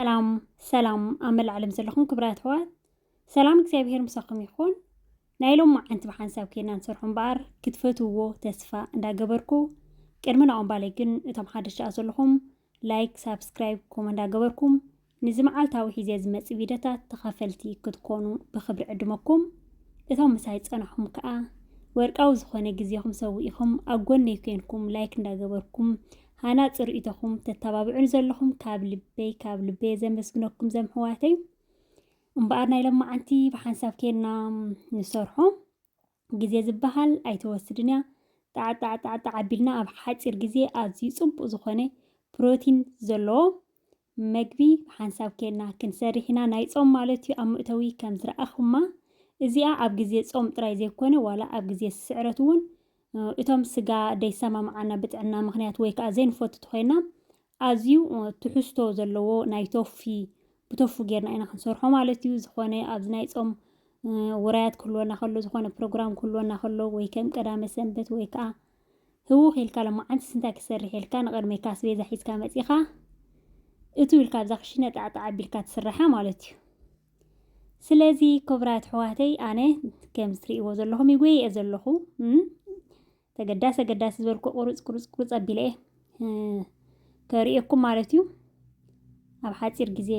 ሰላም ሰላም ኣብ መላእ ዓለም ዘለኹም ክብራት ኣሕዋት ሰላም እግዚኣብሄር ምሳኹም ይኹን ናይ ሎም መዓንቲ ብሓንሳብ ኬና ንሰርሖ እምበኣር ክትፈትውዎ ተስፋ እንዳገበርኩ ቅድሚ ናኦም ባለይ ግን እቶም ሓደሻ ዘለኹም ላይክ ሳብስክራይብ ኮመ እንዳገበርኩም ንዚ መዓልታዊ ሒዜ ዝመጽእ ቪድዮታት ተኻፈልቲ ክትኮኑ ብኽብሪ ዕድመኩም እቶም ምሳይ ዝጸናሕኹም ከኣ ወርቃዊ ዝኾነ ግዜኹም ሰዊእኹም ኣብ ጎነይ ኮንኩም ላይክ እንዳገበርኩም ሃናጺ ርእይቶኹም ተተባብዑኒ ዘለኹም ካብ ልበይ ካብ ልበይ ዘመስግነኩም ዘምሕዋተይ እምበኣር ናይ ሎማዓንቲ ብሓንሳብ ኬንና ንሰርሖ ግዜ ዝበሃል ኣይትወስድን እያ። ጣዕጣዕጣዕጣዕ ኣቢልና ኣብ ሓጺር ግዜ ኣዝዩ ጽቡቕ ዝኾነ ፕሮቲን ዘለዎ መግቢ ብሓንሳብ ኬንና ክንሰርሕ ኢና ናይ ጾም ማለት እዩ ኣብ መእተዊ ከም ዝረኣኹማ እዚኣ ኣብ ግዜ ጾም ጥራይ ዘይኮነ ዋላ ኣብ ግዜ ስዕረት እውን እቶም ስጋ ደይሰማምዓና ብጥዕና ምኽንያት ወይ ከኣ ዘይንፈቱ ተኾይና ኣዝዩ ትሕዝቶ ዘለዎ ናይ ቶፊ ብቶፉ ጌርና ኢና ክንሰርሖ ማለት እዩ። ዝኾነ ኣብዚ ናይ ጾም ውራያት ክህልወና ከሎ ዝኾነ ፕሮግራም ክህልወና ከሎ ወይ ከም ቀዳመ ሰንበት ወይ ከኣ ህውኽ ኢልካ ሎማዓንትስ እንታይ ክሰርሕ ኢልካ ንቕድሜካ ኣስቤዛ ሒዝካ መጺኻ እትው ኢልካ ኣብዛ ክሽነ ጣዕጣዕ ኣቢልካ ትስራሓ ማለት እዩ። ስለዚ ክብራት ኣሕዋተይ ኣነ ከም ትሪእዎ ዘለኹም ይጎየ እየ ዘለኹ ተገዳሲ ኣገዳሲ ዝበልኩ ቁሩፅ ቁሩፅ ቁሩፅ ኣቢለ እየ ከርእየኩም ማለት እዩ ኣብ ሓፂር ግዜ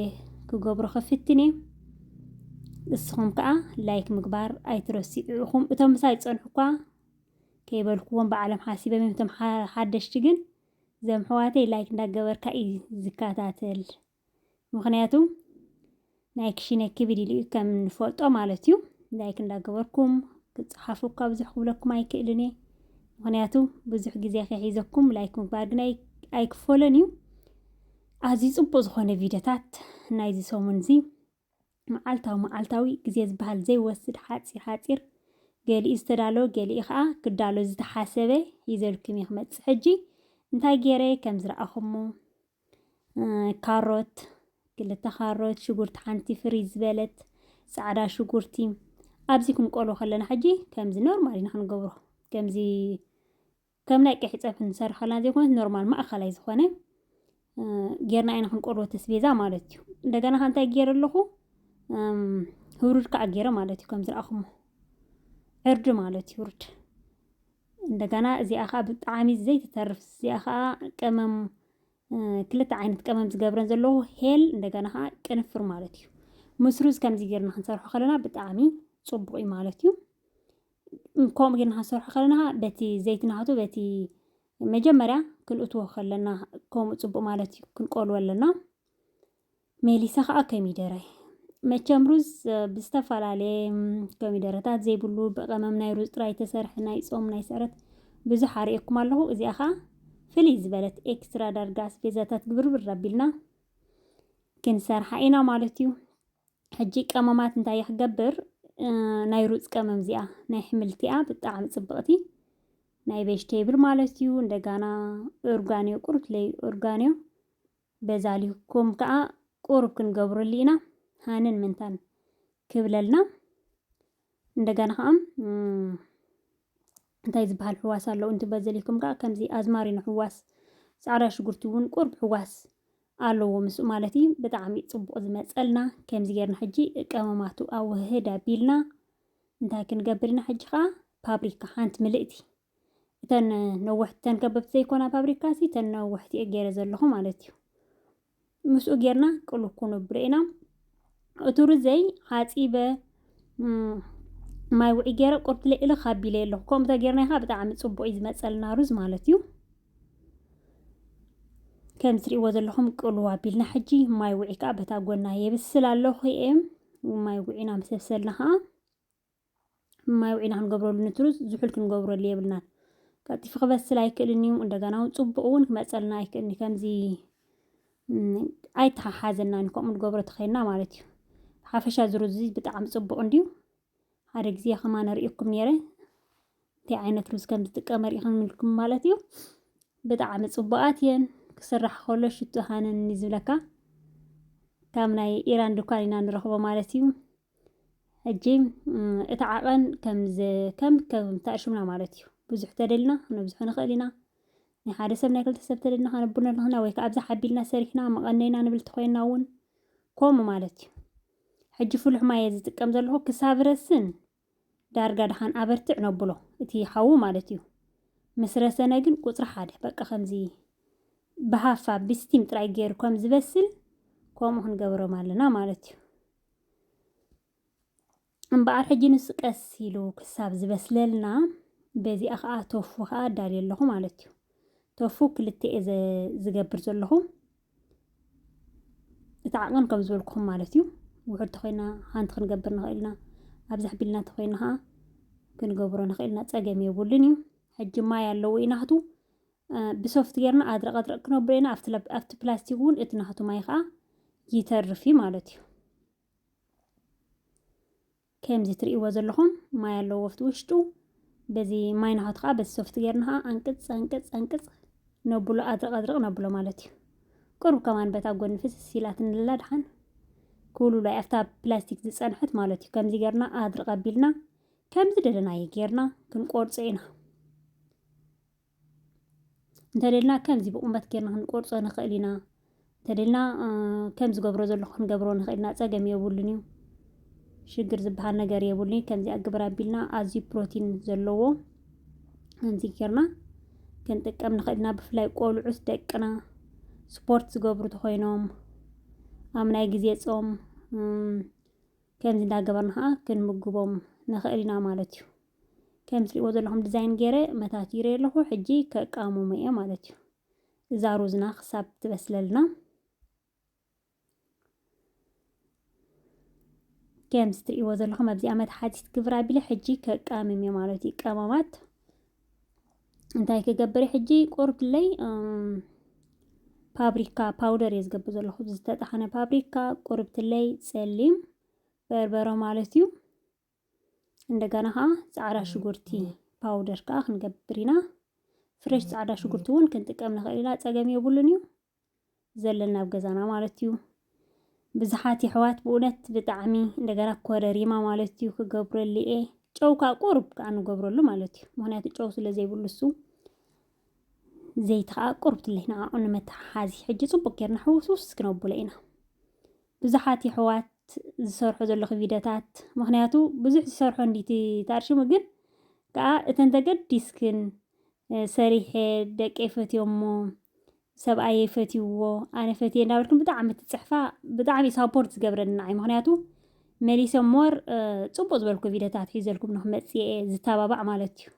ክገብሮ ክፍትን እየ ንስኹም ከዓ ላይክ ምግባር ኣይትረስዑ ኢኹም እቶም ምሳይ ዝፀንሑ እኳ ከይበልኩዎም ብዓለም ሓሲበም እዮም እቶም ሓደሽቲ ግን ዘም ኣሕዋተይ ላይክ እንዳገበርካ እዩ ዝከታተል ምክንያቱ ናይ ክሽነ ክብድ ኢሉ እዩ ከም ንፈልጦ ማለት እዩ ላይክ እንዳገበርኩም ክጽሓፉ እኳ ብዙሕ ክብለኩም ኣይክእልን እየ ምክንያቱ ብዙሕ ግዜ ከሒዘኩም ላይክ ምግባር ግን ኣይክፈሎን እዩ ኣዝዩ ጽቡቅ ዝኾነ ቪድዮታት ናይዚ ሰሙን እዚ መዓልታዊ መዓልታዊ ግዜ ዝበሃል ዘይወስድ ሓጺር ሓጺር ገሊኡ ዝተዳለወ ገሊኡ ከዓ ክዳሎ ዝተሓሰበ ሂዘልኩም እየ ክመጽእ ሕጂ እንታይ ገይረ ከም ዝረኣኹሞ ካሮት ክልተ ካሮት፣ ሽጉርቲ ሓንቲ ፍሪ ዝበለት ጻዕዳ ሽጉርቲ ኣብዚ ክንቆሎ ከለና ሕጂ ከምዚ ኖርማል ኢና ክንገብሮ ከምዚ ከም ናይ ቀይሕ ፀብሒ ንሰርሕ ከለና ዘይኮነት ኖርማል ማእኸላይ ዝኾነ ጌርና ኢና ክንቆሎ ተስቤዛ ማለት እዩ። እንደገና ከ እንታይ ገይረ ኣለኹ ህሩድ ከዓ ገይረ ማለት እዩ ከምዚ ረኣኹሞ ዕርዲ ማለት እዩ ህሩድ እንደገና እዚኣ ከኣ ብጣዕሚ ዘይትተርፍ እዚኣ ከኣ ቀመም ክልተ ዓይነት ቀመም ዝገብረን ዘለዎ ሄል እንደገና ከኣ ቅንፍር ማለት እዩ ምስ ሩዝ ከምዚ ጌርና ክንሰርሖ ከለና ብጣዕሚ ጽቡቕ እዩ ማለት እዩ ከምኡ ጌርና ክንሰርሖ ከለና በቲ ዘይቲ ናቱ በቲ መጀመርያ ክንእትዎ ከለና ከምኡ ጽቡቕ ማለት እዩ ክንቆልወ ኣለና ሜሊሳ ከዓ ኮሚደረ መቸም ሩዝ ብዝተፈላለየ ኮሚደረታት ዘይብሉ ብቐመም ናይ ሩዝ ጥራይ ተሰርሐ ናይ ጾም ናይ ስዕረት ብዙሕ ኣርእየኩም ኣለኹ እዚኣ ከዓ ፍልይ ዝበለት ኤክስትራ ዳርጋ ኣስቤዛታት ግብርብር ኣቢልና ክንሰርሓ ኢና ማለት እዩ ሕጂ ቀመማት እንታይ ክገብር ናይ ሩፅ ቀመም እዚኣ ናይ ሕምልቲኣ ብጣዕሚ ፅብቕቲ ናይ ቬጅቴብል ማለት እዩ እንደጋና ኦርጋኒዮ ቁርት ለይ ኦርጋኒዮ በዛ ሊኩም ከኣ ቁሩብ ክንገብረሉ ኢና ሃንን ምንታን ክብለልና እንደገና ከኣ እንታይ ዝበሃል ሕዋስ ኣለዉ እንት በዚ ሊኩም ከኣ ከምዚ ኣዝማሪኖ ሕዋስ ጻዕዳ ሽጉርቲ እውን ቁሩብ ሕዋስ ኣለዎ ምስ ማለት እዩ ብጣዕሚ ጽቡቅ ዝመጸልና ከምዚ ጌርና ሕጂ ቀመማቱ ኣወህህድ ኣቢልና እንታይ ክንገብር ኢና ሕጂ ከኣ ፓብሪካ ሓንቲ ምልእቲ እተን ነወሕቲ እተን ከበብቲ ዘይኮና ፋብሪካሲ እተን ነወሕቲ እየ ገይረ ዘለኹ ማለት እዩ ምስኡ ጌርና ቅሉ ኩኑብሎ ኢና እቱ ርዘይ ዓፂበ ማይ ውዒ ገይረ ቁርትለ ኢለ ካቢለ ኣለኹ ከምኡ ተጌርና ኢኻ ብጣዕሚ ፅቡቅ እዩ ዝመፀልና ሩዝ ማለት እዩ ከም ትሪእዎ ዘለኹም ቅሉ ኣቢልና ሕጂ ማይ ውዒ ከዓ በታ ጎና የብስል ኣለኹ እየ ማይ ውዒና ምሰብሰልና ከዓ ማይ ውዒና ክንገብረሉ ንትሩዝ ዝሑል ክንገብረሉ የብልናን። ቀልጢፉ ክበስል ኣይክእልን እዩ። እንደገና እውን ፅቡቕ እውን ክመፀልና ኣይክእልን እዩ። ከምዚ ኣይተሓሓዘናን እዩ ከምኡ ንገብሮ ተኸይና ማለት እዩ። ሓፈሻ ዝሩዝ እዚ ብጣዕሚ ፅቡቕ እንድዩ። ሓደ ግዜ ከማን ሪእኩም ነይረ እንታይ ዓይነት ሩዝ ከም ዝጥቀመ ሪኢኹም ምልኩም ማለት እዩ። ብጣዕሚ ፅቡቓት እየን ክስራሕ ከሎ ሽቱ ሃነኒ ዝብለካ ካብ ናይ ኢራን ድኳን ኢና ንረኽቦ ማለት እዩ። ሕጂ እቲ ዓቐን ከም ከም ተኣሽምና ማለት እዩ ብዙሕ ተደልና ነብዝሖ ንኽእል ኢና ናይ ሓደ ሰብ ናይ ክልተ ሰብ ተደልና ከነብር ንኽና ወይ ከዓ ኣብዛ ሓቢልና ሰሪሕና መቐነይና ንብል ተኾይንና እውን ከምኡ ማለት እዩ ሕጂ ፍሉሕ ማየ ዝጥቀም ዘለኹ ክሳብ ረስን ዳርጋ ድሓን ኣበርትዕ ነብሎ እቲ ሓዉ ማለት እዩ ምስ ረሰነ ግን ቁፅሪ ሓደ በቃ ከምዚ ብሃፋ ብስቲም ጥራይ ገይሩ ከም ዝበስል ከምኡ ክንገብሮም ኣለና ማለት እዩ እምበኣር ሕጂ ንሱ ቀስ ኢሉ ክሳብ ዝበስለልና በዚኣ ከዓ ቶፉ ከዓ ኣዳልዮ ኣለኹ ማለት እዩ ቶፉ ክልተ እየ ዝገብር ዘለኹ እቲ ዓቐን ከም ዝበልኩኹም ማለት እዩ ውሑድ ተኮይና ሓንቲ ክንገብር ንኽእል ኢና ኣብዛ ቢልና ተኮይና ከዓ ክንገብሮ ንኽእል ኢና ፀገም የብሉን እዩ ሕጂ ማይ ኣለዎ ኢናክቱ ብሶፍት ጌርና ኣድረቕ ኣድረቕ ክነብሎ ኢና። ኣብቲ ፕላስቲክ እውን እቲ ናቱ ማይ ከዓ ይተርፍ እዩ ማለት እዩ። ከምዚ ትርእይዎ ዘለኹም ማይ ኣለዎ ኣብቲ ውሽጡ። በዚ ማይ ናቱ ከዓ በዚ ሶፍት ጌርና ከዓ ኣንቅፅ ኣንቅፅ ኣንቅፅ ነብሎ ኣድረቕ ኣድረቕ ነብሎ ማለት እዩ። ቅሩብ ከማን በታ ጎኒ ፍስስ ኢላትንላ ድሓን ክውልብሎ እዩ። ኣብታ ፕላስቲክ ዝፀንሐት ማለት እዩ። ከምዚ ጌርና ኣድርቕ ኣቢልና ከምዚ ደለናዮ ጌርና ክንቆርፆ ኢና። እንተደልና ከምዚ ብቑመት ጌርና ክንቆርጾ ንኽእል ኢና እንተደልና ከም ዝገብሮ ዘለኹ ክንገብሮ ንኽእል ኢና ጸገም የብሉን እዩ ሽግር ዝበሃል ነገር የብሉን ከምዚ ኣግብር ኣቢልና ኣዝዩ ፕሮቲን ዘለዎ ከምዚ ጌርና ክንጥቀም ንኽእል ኢና ብፍላይ ቆልዑት ደቅና ስፖርት ዝገብሩ ተኾይኖም ኣብ ናይ ግዜ ጾም ከምዚ እንዳገበርና ከዓ ክንምግቦም ንኽእል ኢና ማለት እዩ ከም ትሪእዎ ዘለኹም ዲዛይን ገይረ መታቲረዮ ኣለኹ። ሕጂ ከቃምሞ እየ ማለት እዩ። እዛ ሩዝና ክሳብ ትበስለልና ከም ትሪእዎ ዘለኹም ኣብዚኣ መትሓዚት ግብር ኣቢለ ሕጂ ከቃምም እየ ማለት እዩ። ቀማማት እንታይ ክገብር ሕጂ ቁርብለይ ፓብሪካ ፓውደር እየ ዝገብር ዘለኹ ዝተጣሓነ ፓብሪካ ቁርብትለይ ጸሊም በርበረ ማለት እዩ። እንደገና ከዓ ፃዕዳ ሽጉርቲ ፓውደር ከዓ ክንገብር ኢና ፍሬሽ ፃዕዳ ሽጉርቲ እውን ክንጥቀም ንኽእል ኢና ፀገም የብሉን እዩ ዘለና ኣብ ገዛና ማለት እዩ ብዙሓት የሕዋት ብእውነት ብጣዕሚ እንደገና ኮረሪማ ማለት እዩ ክገብረሉ እየ ጨው ከዓ ቁርብ ከዓ ንገብረሉ ማለት እዩ ምክንያቱ ጨው ስለ ዘይብሉ እሱ ዘይቲ ከዓ ቁርብ ትለይ ንዓኡ ንመተሓሓዚ ሕጂ ፅቡቅ ጌርና ሕውስውስ ክነብሎ ኢና ብዙሓት የሕዋት ዝሰርሖ ዘለኺ ቪደታት ምኽንያቱ ብዙሕ ዝሰርሖ እንድዩ እቲ ታርሽሙ ግን ከኣ እተን ተገዲስክን ሰሪሐ ደቀይ ፈትዮሞ ሰብኣየይ ፈትይዎ ኣነ ፈትየ እንዳበልክን ብጣዕሚ ትጽሕፋ ብጣዕሚ እዩ ሳፖርት ዝገብረኒ ንዓይ ምኽንያቱ መሊሰ ሞር ጽቡቅ ዝበልኩ ቪደታት ሒዘልኩም ንክመጽእ እየ ዝታባባዕ ማለት እዩ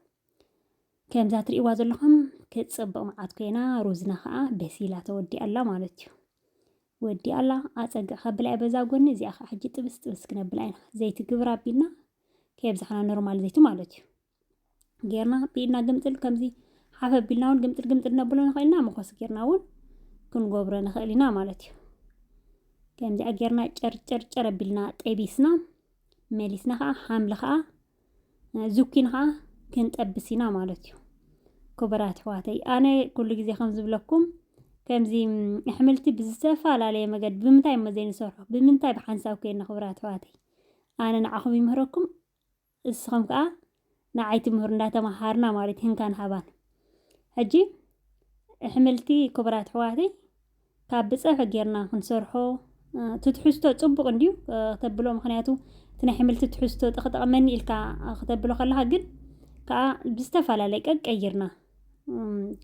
ከምዛ ትርእይዋ ዘለኹም ክትጽብቅ መዓት ኮይና ሩዝና ከኣ በሲላ ተወዲኣ ኣላ ማለት እዩ ወዲ ኣላ ኣጸግዕካ ብላዒ በዛ ጎኒ እዚኣ ከኣ ሕጂ ጥብስ ጥብስ ክነብላ ኢና ዘይቲ ግብር ኣቢልና ከየብዛሕና ኖርማል ዘይቲ ማለት እዩ ጌርና ብኢድና ግምጥል ከምዚ ሓፍ ኣቢልና እውን ግምጥል ግምጥል ነብሎ ንኽእል ኢና መኾስ ጌርና እውን ክንጎብሮ ንኽእል ኢና ማለት እዩ ከምዚኣ ጌርና ጨርጨርጨር ኣቢልና ጠቢስና መሊስና ከዓ ሓምሊ ከዓ ዝኪን ኸዓ ክንጠብስ ኢና ማለት እዩ ክቡራት ኣሕዋተይ ኣነ ኩሉ ግዜ ከም ዝብለኩም ከምዚ ኣሕምልቲ ብዝተፈላለየ መገዲ ብምንታይ እሞ ዘይንሰርሖ ብምንታይ ብሓንሳብ ኮይና ክቡራት ኣሕዋተይ ኣነ ንዓኹም ይምህረኩም እስኹም ከዓ ንዓይ ትምህሩ እንዳተመሃርና ማለት ህንካን ሃባን ሕጂ ኣሕምልቲ ክቡራት ኣሕዋተይ ካብ ብጸብሒ ጌርና ክንሰርሖ እቲ ትሕዝቶ ጽቡቕ እንድዩ ክተብሎ ምክንያቱ እቲ ናይ ሕምልቲ ትሕዝቶ ጠቕጠቕመኒ ኢልካ ክተብሎ ከለካ ግን ከኣ ብዝተፈላለየ ቀቀይርና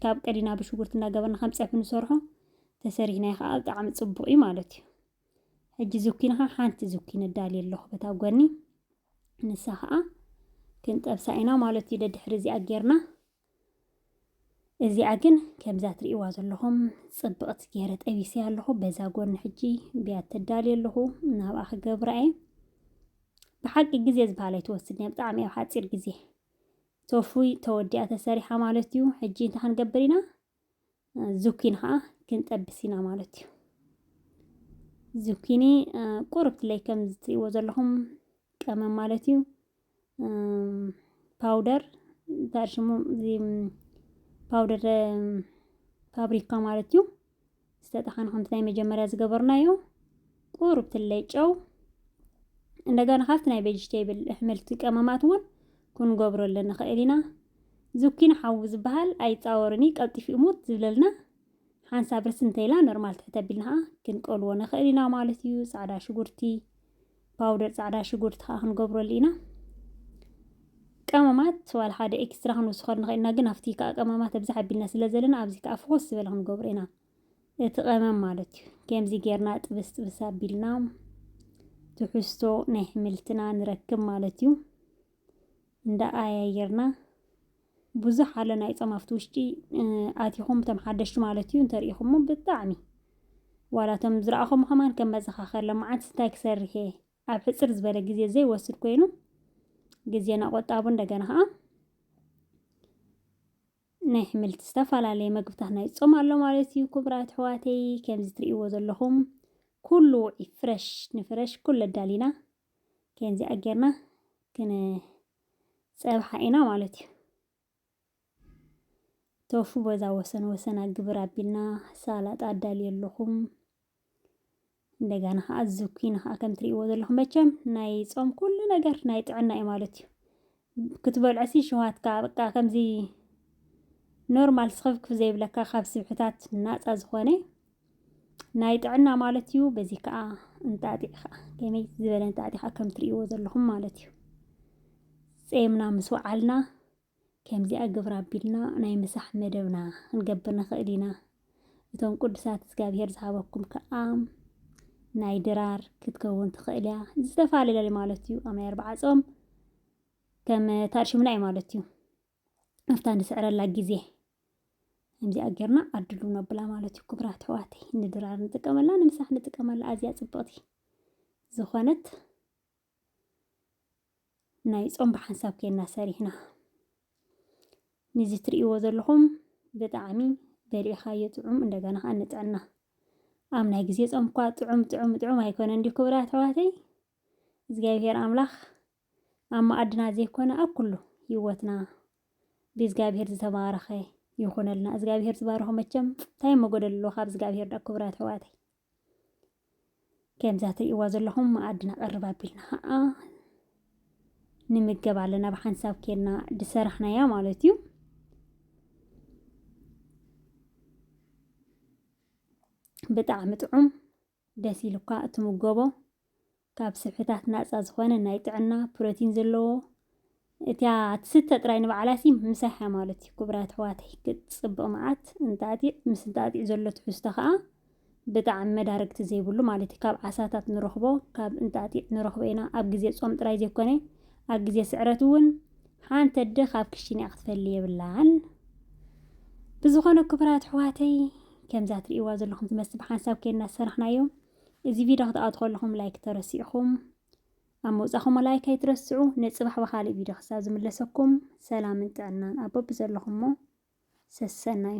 ካብ ቀዲና ብሽጉርቲ እናገበርና ከም ጸብሒ ንሰርሖ ተሰሪሕናዮ ከኣ ብጣዕሚ ጽቡቕ እዩ ማለት እዩ ሕጂ ዝኩንኻ ሓንቲ ዝኩን እዳልየ ኣለኹ በታ ጎኒ ንሳ ኸኣ ክንጠብሳ ኢና ማለት እዩ ደድሕሪ እዚኣ ጌርና እዚኣ ግን ከምዛ ትርእይዋ ዘለኹም ጽብቕቲ ገይረ ጠቢሰ ኣለኹ። በዛ ጎኒ ሕጂ ብያት ተዳልየ ኣለኹ ናብኣ ክገብራ እየ። ብሓቂ ግዜ ዝበሃል ኣይትወስድን እያ ብጣዕሚ ኣብ ሓፂር ግዜ ተፉይ ተወዲኣ ተሰሪሓ ማለት እዩ። ሕጂ እንታይ ክንገብር ኢና? ዙኪኒ ከዓ ክንጠብስ ኢና ማለት እዩ ዙኪኒ ቁርብ ትለይ ከም ዝትሪእዎ ዘለኹም ቀመም ማለት እዩ ፓውደር እንታይ ሽሙ ፓውደር ፋብሪካ ማለት እዩ ዝተጠሓኑ ከምቲ ናይ መጀመርያ ዝገበርናዮ ቁሩብ ትለይ ጨው እንደገና ካብቲ ናይ ቬጅቴብል ኣሕምልቲ ቀመማት እውን ክንገብረሉ ንኽእል ኢና ዝኪን ሓዊ ዝበሃል ኣይፃወርን እዩ ቀልጢፉ እሙት ዝብለልና ሓንሳብ ርስ እንተኢላ ኖርማል ትሕተ ኣቢልና ከዓ ክንቀልዎ ንኽእል ኢና ማለት እዩ ፃዕዳ ሽጉርቲ ፓውደር ጻዕዳ ሽጉርቲ ከዓ ክንገብረሉ ኢና ቀመማት ዋላ ሓደ ኤክስትራ ክንውስኸሉ ንኽእል ኢና ግን ኣብቲ ከዓ ቀመማት ኣብዛ ሓቢልና ስለ ዘለና ኣብዚ ከዓ ፍኾስ ዝበለ ክንገብሮ ኢና እቲ ቀመም ማለት እዩ ከምዚ ጌርና ጥብስ ጥብስ ኣቢልና ትሕዝቶ ናይ ሕምልትና ንረክብ ማለት እዩ እንዳቀያየርና ብዙሕ ኣሎ ናይ ጾም ኣብቲ ውሽጢ ኣቲኹም እቶም ሓደሽቲ ማለት እዩ እንተሪኢኹሞ ብጣዕሚ ዋላ እቶም ዝረኣኹም ከማን ከም መዘኻኸር ለመዓት እንታይ ክሰርሕ እየ ኣብ ሕፅር ዝበለ ግዜ ዘይወስድ ኮይኑ ግዜና ቆጣቡ እንደገና ከዓ ናይ ኣሕምልቲ ዝተፈላለየ መግብታት ናይ ጾም ኣሎ ማለት እዩ ክቡራት ኣሕዋተይ ከምዚ ትርእይዎ ዘለኹም ኩሉ ውዒ ፍረሽ ንፍረሽ ኩሉ ኣዳሊና ከምዚኣ ጌርና ክንፀብሓ ኢና ማለት እዩ። ቶፉ በዛ ወሰን ወሰና ግብር ኣቢልና ሳላጣ ኣዳልየ ኣለኹም። እንደገና ከዓ ዝኩኒ ከዓ ከም ትሪእዎ ዘለኹም መቸም ናይ ፆም ኩሉ ነገር ናይ ጥዕና እዩ ማለት እዩ። ክትበልዖሲ ሸውሃትካ በቃ ከምዚ ኖርማል ስኽፍክፍ ዘይብለካ ካብ ስብሕታት ናፃ ዝኾነ ናይ ጥዕና ማለት እዩ። በዚ ከዓ እንጣጢዕ ከዓ ከመይ ዝበለ እንጣጢዕ ከዓ ከም ትርእይዎ ዘለኹም ማለት እዩ። ጼምና ምስ ወዓልና ከምዚኣ ግብራ ኣቢልና ናይ ምሳሕ መደብና ክንገብር ንኽእል ኢና። እቶም ቅዱሳት እግዚኣብሔር ዝሃበኩም ከኣ ናይ ድራር ክትከውን ትኽእል እያ ዝተፈላለለ ማለት እዩ ኣብ ናይ ኣርባዓ ጾም ከም ታርሽምና እዩ ማለት እዩ ኣብታ ንስዕረላ ግዜ ከምዚኣ ጌርና ኣድሉ ነብላ ማለት እዩ ክብራት ሕዋተይ ንድራር ንጥቀመላ ንምሳሕ ንጥቀመላ ኣዝያ ጽብቕቲ ዝኾነት ናይ ጾም ብሓንሳብ ኬና ሰሪሕና ንዚ ትርእይዎ ዘለኹም ብጣዕሚ በሊዕኻዮ ጥዑም እንደገና ከዓ ንጥዕና ኣብ ናይ ግዜ ጾም እኳ ጥዑም ጥዑም ጥዑም ኣይኮነ እንዲዩ ክብራት ኣሕዋተይ እግዚኣብሔር ኣምላኽ ኣብ መኣድና ዘይኮነ ኣብ ኩሉ ህይወትና ብእግዚኣብሔር ዝተባረኸ ይኹነልና እግዚኣብሔር ዝባረኾ መቸም እንታይ መጎደል ኣለዎ ካብ እግዚኣብሔር ዳ ክብራት ኣሕዋተይ ከምዛ ትርእይዋ ዘለኹም መኣዲ ነቐርብ ኣቢልና ከዓ ንምገብ ኣለና ብሓንሳብ ኬልና ድሰራሕናያ ማለት እዩ ብጣዕሚ ጥዑም ደስ ኢሉካ እትምገቦ ካብ ስብሕታት ናጻ ዝኾነ ናይ ጥዕና ፕሮቲን ዘለዎ እቲያ ትስተ ጥራይ ንባዕላሲ ምሳይ ሓማሎት እዩ ክቡራት ኣሕዋተይ ክትጽብቕ መዓት እንጣጢዕ ምስ እንጣጢዕ ዘሎ ትሕዝቶ ከኣ ብጣዕሚ መዳርግቲ ዘይብሉ ማለት እዩ ካብ ዓሳታት ንረኽቦ ካብ እንጣጢዕ ንረኽቦ ኢና ኣብ ግዜ ጾም ጥራይ ዘይኮነ ኣብ ግዜ ስዕረት እውን ሓንቲ ኣደ ካብ ክሽን እያ ክትፈሊ የብላን ብዝኾነ ክቡራት ኣሕዋተይ ከምዛ ትርእይዋ ዘለኹም ትመስል ብሓንሳብ ከይና ዝሰራሕናዮ እዚ ቪድዮ ክትኣቱ ከለኹም ላይክ ተረሲዕኹም ኣብ ምውጻኹም ላይክ ኣይትረስዑ። ንጽባሕ ብኻልእ ቪድዮ ክሳብ ዝምለሰኩም ሰላምን ጥዕናን ኣብ በብዘለኹሞ ሰሰናዩ።